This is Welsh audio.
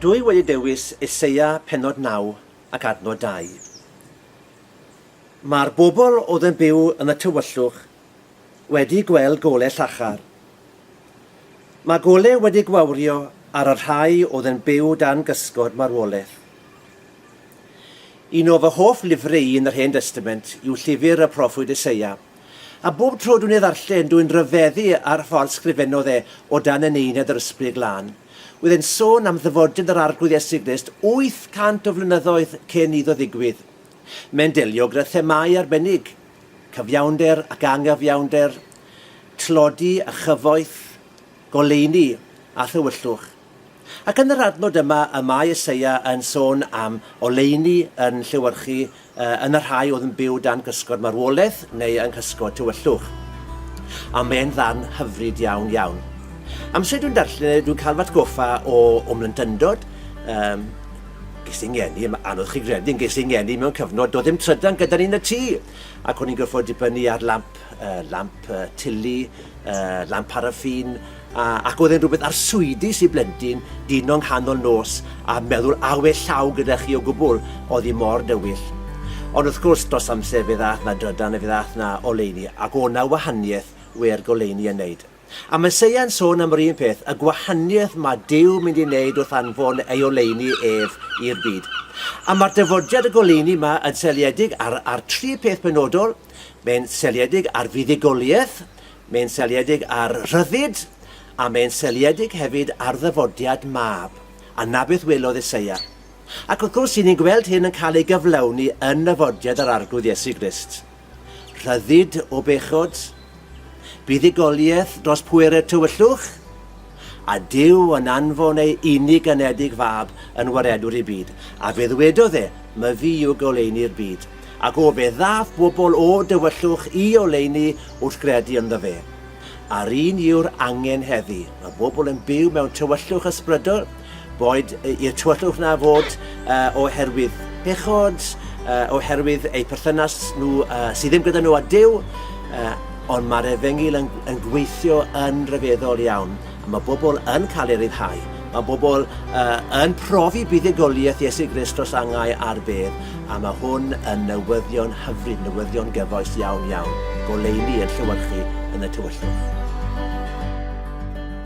Dwi wedi dewis Eseia pennod 9 ac adnod 2. Mae'r bobl oedd yn byw yn y tywyllwch wedi gweld gole llachar. Mae gole wedi gwawrio ar y rhai oedd yn byw dan gysgod marwolaeth. Un o fy hoff lyfrau yn yr Hen Destament yw llyfr y proffwyd Eseia. A bob tro dwi'n ei ddarllen, dwi'n rhyfeddu ar y ffordd sgrifennodd e o dan eneiniad yr Ysbryd Glân. Oedd e'n sôn am ddyfodiad yr Arglwydd Iesu Grist 800 o flynyddoedd cyn iddo ddigwydd. Mae'n delio gyda themâu arbennig, cyfiawnder ac anghyfiawnder, tlodi a chyfoeth, goleuni a thywyllwch. Ac yn yr adnod yma y mae Eseia yn sôn am oleuni yn llewyrchu yn y rhai oedd yn byw dan gysgod marwolaeth neu yng nghysgod tywyllwch. A mae'n ddarn hyfryd iawn iawn. Amser dwi'n darllen e, dwi'n cael fy atgoffa o o mlyntyndod, um, ges i ngeni, mae anodd chi gredu, ges i ngeni mewn cyfnod, doedd ddim trydan gyda ni yn y tŷ, ac o'n i'n gorfod dibynnu ar lamp, uh, lamp uh, tili, uh, lamp paraffin, A, ac oedd e'n rhywbeth arswydus i blentyn dino nghanol nos a meddwl awe llaw gyda chi o gwbl, oedd hi mor dywyll. Ond wrth gwrs, dros amser fe ddaeth 'na drydan a fe ddaeth 'na oleuni, ac o' 'na wahaniaeth wer goleuni yn neud. A ma' Seia'n sôn am yr un peth, y gwahaniaeth ma' Duw mynd i neud wrth anfon ei oleuni ef i'r byd. A ma'r dyfodiad y goleuni 'ma yn seiliedig ar ar tri peth penodol, mae'n seiliedig ar fuddugoliaeth, Mae'n seiliedig ar rhyddid, a mae'n seiliedig hefyd ar ddyfodiad mab, a 'na beth welodd Eseia. Ac wrth gwrs, 'y ni'n gweld hyn yn cael ei gyflawni yn nyfodiad yr Arglwydd Iesu Grist. Rhyddid o bechod, buddugoliaeth dros pwerau'r tywyllwch, a Duw yn anfon ei unig anedig fab yn waredwr i'r byd, a fe ddwedodd e, my fi yw goleuni'r byd, ac o fe ddaf bobl o dywyllwch i oleuni wrth gredu ynddo fe. A'r un yw'r angen heddi, mae bobl yn byw mewn tywyllwch ysbrydol, Boed i'r tywyllwch na fod uh, oherwydd pechod, uh, oherwydd eu perthynas nhw uh, sydd ddim gyda nhw a Dyw, uh, ond mae'r efengyl yn, yn gweithio yn rhyfeddol iawn. A mae bobl yn cael ei ryddhau. Mae bobl uh, yn profi buddugoliaeth Iesu Grist dros angau ar bedd, a mae hwn yn newyddion hyfryd, newyddion gyfoes iawn iawn, goleuni yn llywyrchu yn y tywyllwch.